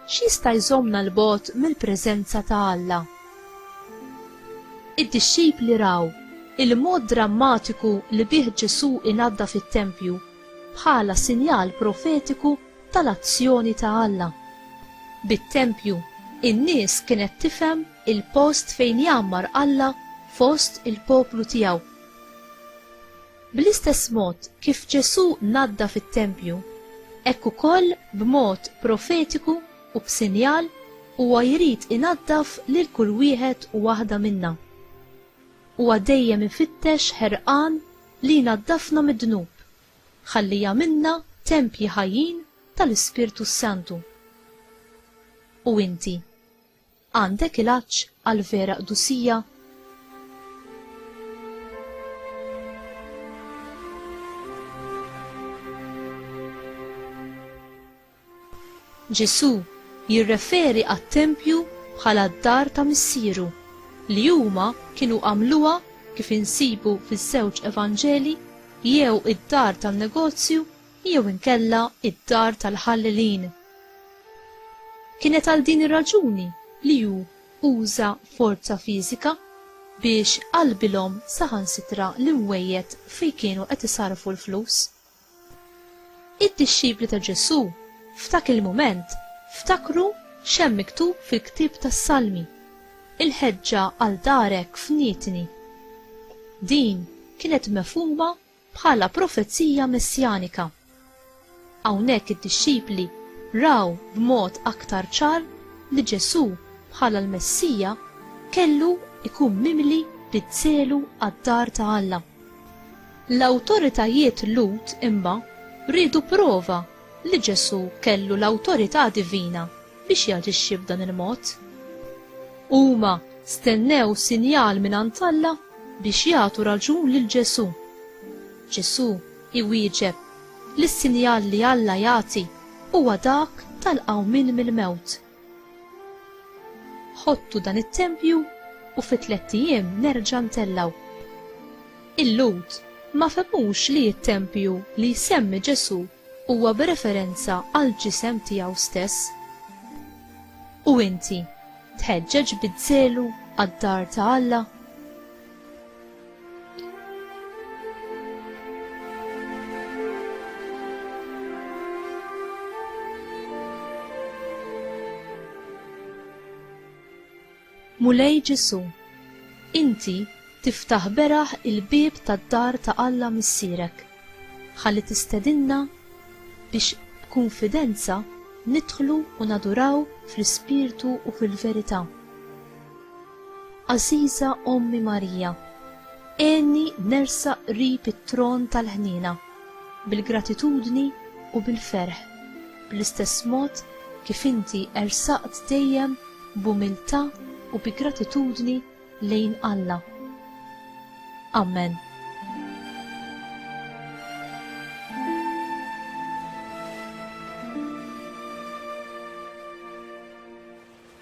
x'jista' jżommna 'l bogħod mill-preżenza ta' Alla. Id-dixxipli raw il-mod drammatiku li bih Ġesù inaddaf it-tempju bħala sinjal profetiku tal-azzjoni ta' Alla. Bit-tempju, in-nies kienet tifhem il-post fejn jgħammar Alla fost il-poplu tiegħu. Bl-istess mod kif Ġesù naddaf it-tempju, hekk ukoll b'mod profetiku u b'sinjal huwa jrid inaddaf lil kull wieħed u waħda minna. Huwa dejjem ifittex ħerqan li jnaddafna mid-dnub. ħalli jagħmilna tempji ħajjin tal-Ispirtu s-Santu. U inti, għandek il-għatx għall-vera qdusija? Ġesù jirreferi għat-tempju bħala d-dar ta' Missieru, li huma kienu għamluha, kif insibu fiż-żewġ Evanġelji, jew id-dar tan-negozju jew inkella d-dar tal-ħallelin. Kienet għal din ir-raġuni li hu uża forza fiżika biex qalbilhom saħansitra l-imwejjed fejn kienu qed isarrfu l-flus. Id-dixxipli ta' Ġesù f'dak il-mument ftakru x'hemm miktub fil-ktieb tas-Salmi, Il-ħeġġa għal darek fnietni. Din kienet mefhuma bħala profezija messjanika. Hawnhekk id-dixxipli raw b'mod aktar ċar li Ġesù bħala l-Messija kellu jkun mimli bid-dżelu għad-dar ta' Alla. L-awtoritajiet Lhud imma riedu prova li Ġesù kellu l-awtorità divina biex jaġixxi b'dan il-mod. Huma stennew sinjal mingħand Alla biex jagħtu raġun lil Ġesù. Ġesù iwieġeb li s-sinjal li Alla jagħti huwa dak tal-qawmien mill-mewt. Ħottu dan it-tempju u fi tlett ijiem nerġa' ntellgħu. Il-Lhud ma fehmux li t-tempju li jsemmi Ġesù huwa b'referenza għall-ġisem tiegħu stess. U inti, tħeġġeġ biż-żelu għad-dar ta' Alla? Mulej Ġesu, inti tiftaħ beraħ il-bieb tad-dar ta' Alla Missierek, ħalli tistedinna biex b'kunfidenza nidħlu u naduraw fl-ispirtu u fil-verità. Għażiża Ommi Marija, għenni nersaq qrib it-tron tal-ħniena, bil-gratitudni u bil-ferħ, bl-istess mod kif inti ersaqt dejjem b'umiltà u bi gratitudni lejn Alla. Amen.